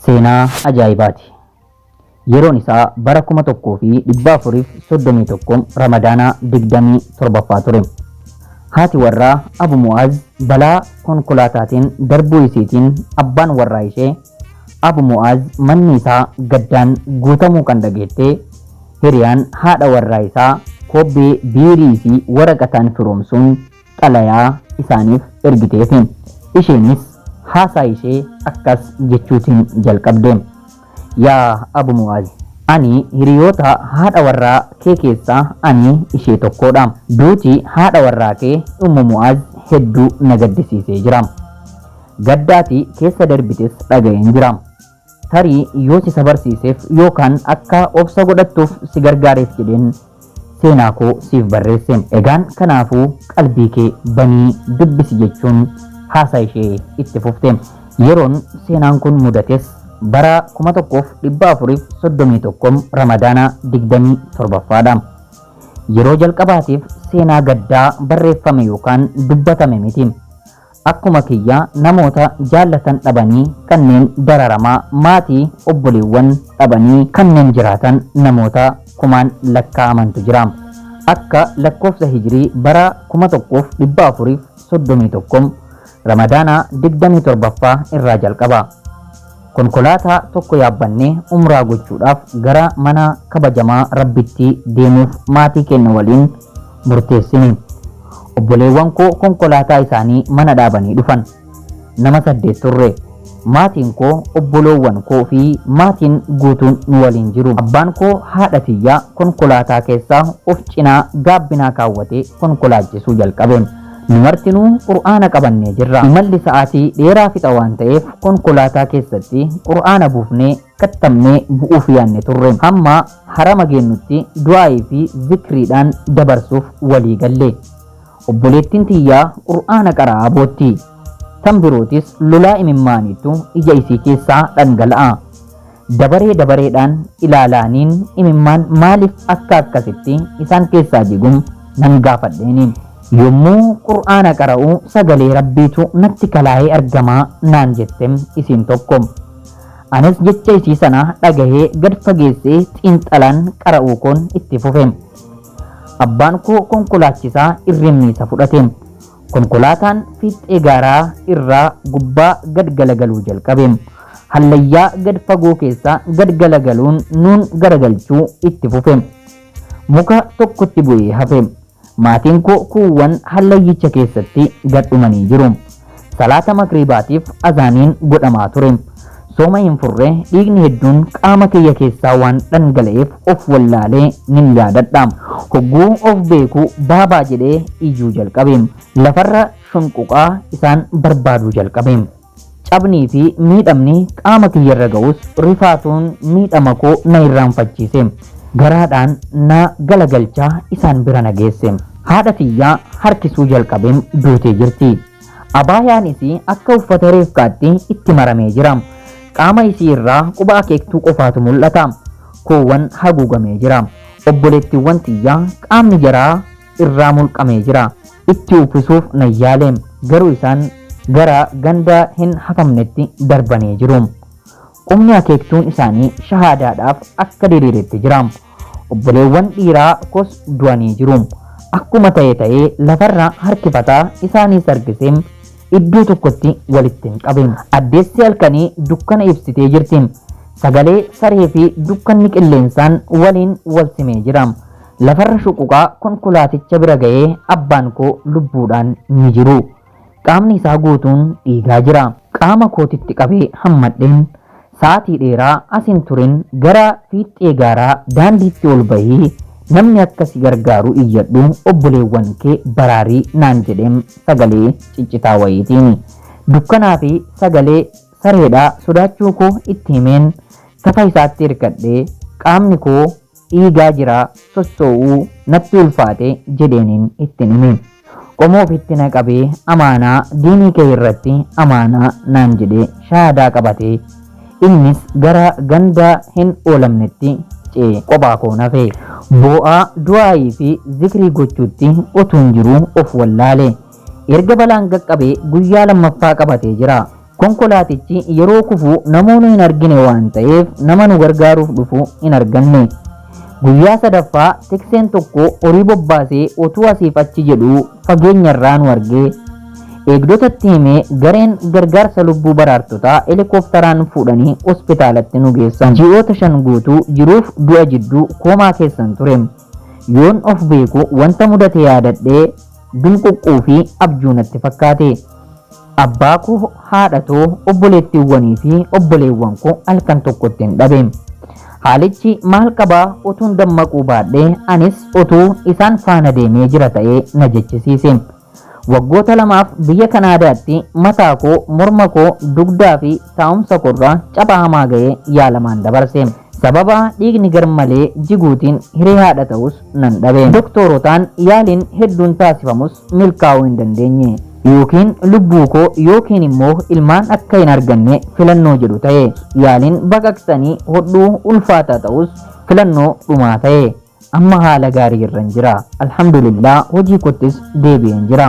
Seenaa ajaa'ibaati. Yeroon isaa bara 1431 Ramadaana 27ffaa ture. Haati warraa Abu Mu'aaz balaa konkolaataatiin darbuu isiitiin abbaan warraa ishee Abu Mu'aaz manni isaa gaddaan guutamuu kan dhageette hiriyaan haadha warraa isaa kobbee biirii fi waraqataan firoomsuun xalayaa isaaniif ergiteefi. Isheenis haasaa ishee akkas jechuutiin jalqabde. Yaa Abu Mu'aaz! Ani hiriyoota haadha warraa kee keessaa ani ishee tokkoodha. Duuti haadha warraa kee Ummu Mu'aaz hedduu na gaddisiisee jira. Gadda ati keessa darbites dhaga'een jira. Tarii yoo si sabarsiiseef yookaan akka obsa godhattuuf si gargaareef jedheen seenaa koo siif barreesse. Egaan kanaafuu qalbii kee banii dubbisi jechuun haasaa ishee itti fufte. Yeroon seenaan kun mudates bara 1431 Ramadaana 27ffaadha. Yeroo jalqabaatiif seenaa gaddaa barreeffame yookaan dubbatame miti. akkuma kiyya namoota jaallatan dhabanii kanneen dararamaa maatii obboleewwan dhabanii kanneen jiraatan namoota kumaan lakkaa'amantu jira akka lakkoofsa hijirii bara 1431 ramadaana 27ffaa irraa jalqaba Konkolaataa tokko yaabbannee umraa gochuudhaaf gara mana kabajamaa Rabbitti deemuuf maatii keenya waliin murteessine. Obboleewwan koo konkolaataa isaanii mana dhaabanii dhufan. Nama saddeet turre. Maatiin koo, obboloowwan koo fi maatiin guutuun nu waliin jiru. Abbaan koo haadha tiyya konkolaataa keessa of cinaa gaabbinaa kaawwatee konkolaachisuu jalqabe. Nu martinuu Qur'aana qabannee jirra. Imalli sa'aatii dheeraa fixa waan ta'eef konkolaataa keessatti Qur'aana buufnee kattabnee bu'uuf yaanne turre. Hamma harama geennutti du'aa'ii fi zikriidhaan dabarsuuf walii galle. Obboleettiin tiyya Qur'aana qara'aa bootti. Tan birootis lolaa imimmaaniitu ija isii keessaa dhangala'a. Dabaree dabareedhaan ilaalaaniin imimmaan maaliif akka akkasitti isaan keessaa jigu nan gaafadheeni. Yommuu Qur'aana qara'u sagalee Rabbiitu natti kalaa'ee argama naan jette isiin tokko. Anis jecha isii sana dhagahee gad fageessee xiinxalaan qara'uu koon itti fufe. Abbaan koo konkolaachisaa irrimmiisa fudhate. Konkolaataan fiixxee gaaraa irraa gubbaa gad galagaluu jalqabe. Hallayyaa gad fagoo keessa gad galagaluun nuun garagalchuu itti fufe. Muka tokkotti bu'ee hafe. Maatiin koo kuuwwan hallayyicha keessatti gad dhumanii jiru. Salaata Magriibaatiif Azaaniin godhamaa ture. Sooma hin furre, dhiigni hedduun qaama kiyya keessaa waan dhangala'eef of wallaale nin yaadadha. Hogguu of beeku Baabaa jedhee iyyuu jalqabe. Lafarra shunquqaa isaan barbaaduu jalqabe. Cabnii fi miidhamni qaama kiyyarra ga'us rifaatuun miidhama koo na irraanfachiise. Garaadhaan na galagalchaa isaan bira na geesse. Haadha tiyya harkisuu jalqabeem duutee jirti. Abaayaan isii akka uffata reefkaatti itti maramee jira. Qaama isii irraa quba akeektuu qofaatu mul'ata. Koowwan haguugamee jira. Obboleettiiwwan tiyya qaamni jaraa irraa mulqamee jira. Itti uwfisuuf nan yaale. Garuu isaan gara ganda hin hafamnetti darbanii jiru. Qubni akeektuun isaanii shahaadaadhaaf akka diriiretti jira. Obboleewwan dhiiraa kos du'anii jiru. Akkuma ta'e ta'ee lafarra harkifataa isaaniis harkisee iddoo tokkotti walitti hin qabe. Addeessi halkanii dukkana ibsitee jirti. Sagalee saree fi dukkanni qilleensaan waliin wal simee jira. Lafarra shuquqaa konkolaaticha bira ga'ee abbaan koo lubbuudhaan ni jiru. Qaamni isaa guutuun dhiigaa jira. Qaama kootitti qabee hammadheen sa'aatii dheeraa as hin turin gara fiixxee gaaraa daandiitti ol bahii namni akka si gargaaru iyyadhu obboleewwan kee baraari naan jedheem sagalee ciccitaa wayiitiin. Dukkanaa fi sagalee sareedhaa sodaachuu koo itti himeen tafa isaatti hirkadhee qaamni koo Dhiigaa jiraa sossoo'uu natti ulfaate jedheenin ittin hime. Qomoo ofitti na qabee amaanaa diinii kee irratti amaanaa naan jedhee shahaadaa qabatee innis gara ganda hin oolamnetti ce'e qophaa koon hafe. Boo'aa du'aa'ii fi zikrii gochuutti utuun jiruu of wallaale. Erga balaan qaqqabee guyyaa lammaffaa qabatee jira. Konkolaatichi yeroo kufu namoonu hin argine waan ta'eef nama nu gargaaruuf dhufu hin arganne. Guyyaa sadaffaa tikseen tokko horii bobbaasee otuu asiif achi jedhuu fageenyarraa nu argee. Eegdotatti himee gareen gargaarsa lubbuu baraartotaa helikooftaraan fuudhanii hospitaalatti nu geessan. Ji'oota shan guutuu jiruuf du'a jidduu koomaa keessan ture. Yoon of beeku wanta mudate yaadadhee. Binquqquu fi abjuu natti fakkaate. Abbaa koo, haadha too, obboleettiiwwanii fi obboleewwan koo halkan tokkottin dhabe. Haalichi maal qabaa utuun dammaquu baadhee anis utuu isaan faana deemee jira ta'ee na jechisiise. Waggoota lamaaf biyya Kanaadaatti mataa koo, morma koo, dugdaa fi taa'umsa koorra capha hamaa ga'ee yaalamaan dabarse. Sababa dhiigni garmalee jiguutiin hiree haadha ta'us nan dhabe. Doktoorotaan yaaliin hedduun taasifamus milkaa'uu hin dandeenye. Yookiin lubbuu koo yookiin immoo ilmaan akka hin arganne filannoo jedhu ta'e. Yaaliin baqaqsanii hodhuu ulfaataa ta'us filannoo dhumaa ta'e. Amma haala gaarii irran jira. Alhamdulillah hojii koottis deebi'een jira.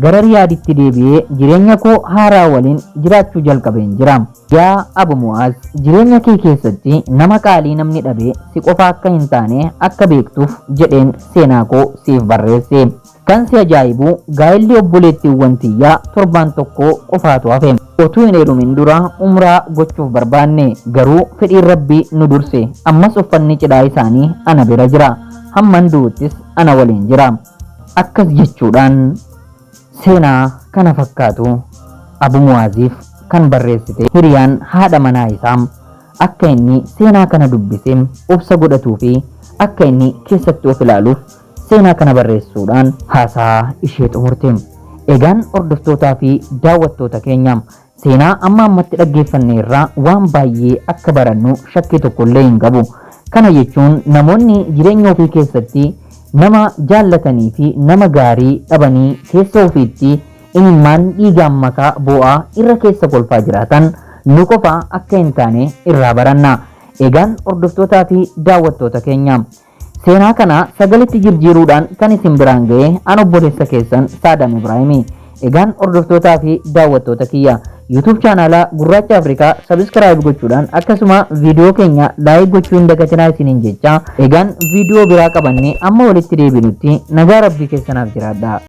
Gara Riyaaditti deebi'ee jireenya koo haaraa waliin jiraachuu jalqabeen jira. Yaa Abu Mu'aaz! Jireenya kee keessatti nama qaalii namni dhabe si qofa akka hin taane akka beektuuf jedheen seenaa koo siif barreesse. Kan si ajaa'ibu gaa'elli obboleettiiwwan tiyyaa torbaan tokko qofaatu hafe. Otuu hin heerumin dura umraa gochuuf barbaanne. Garuu fedhiin Rabbii nu durse. Ammas uffanni cidhaa isaanii ana bira jira. Hamman du'uttis ana waliin jira. Akkas jechuudhaan seenaa kana fakkaatu Abu Mu'aaziif kan barreessite hiriyaan haadha manaa isaa akka inni seenaa kana dubbise obsa godhatuufi akka inni keessatti of ilaaluuf Seenaa kana barreessuudhaan haasahaa ishee xumurte. Egaan hordoftootaa fi daawwattoota keenya, seenaa amma ammatti dhaggeeffanne irraa waan baay'ee akka barannu shakkii tokko illee hin qabu. Kana jechuun namoonni jireenya ofii keessatti nama jaallatanii fi nama gaarii dhabanii keessa ofiitti imimmaan dhiigaan makaa boo'aa irra keessa kolfaa jiraatan nu qofa akka hin taane irraa baranna. Egaan hordoftootaa fi daawwattoota keenya, Seenaa kana sagaletti jirjiiruudhaan kan isin biraan ga'e an obboleessa keessan Saadaam Ibraahimi. Egaan hordoftootaa fi daawwattoota kiyya YouTube chaanaala Gurraacha Afrikaa subscribe gochuudhaan akkasuma viidiyoo keenya like gochuu hin dagatinaa isiniin jecha egaan viidiyoo biraa qabannee amma walitti deebinutti nagaa rabbii keessanaaf jiraadha.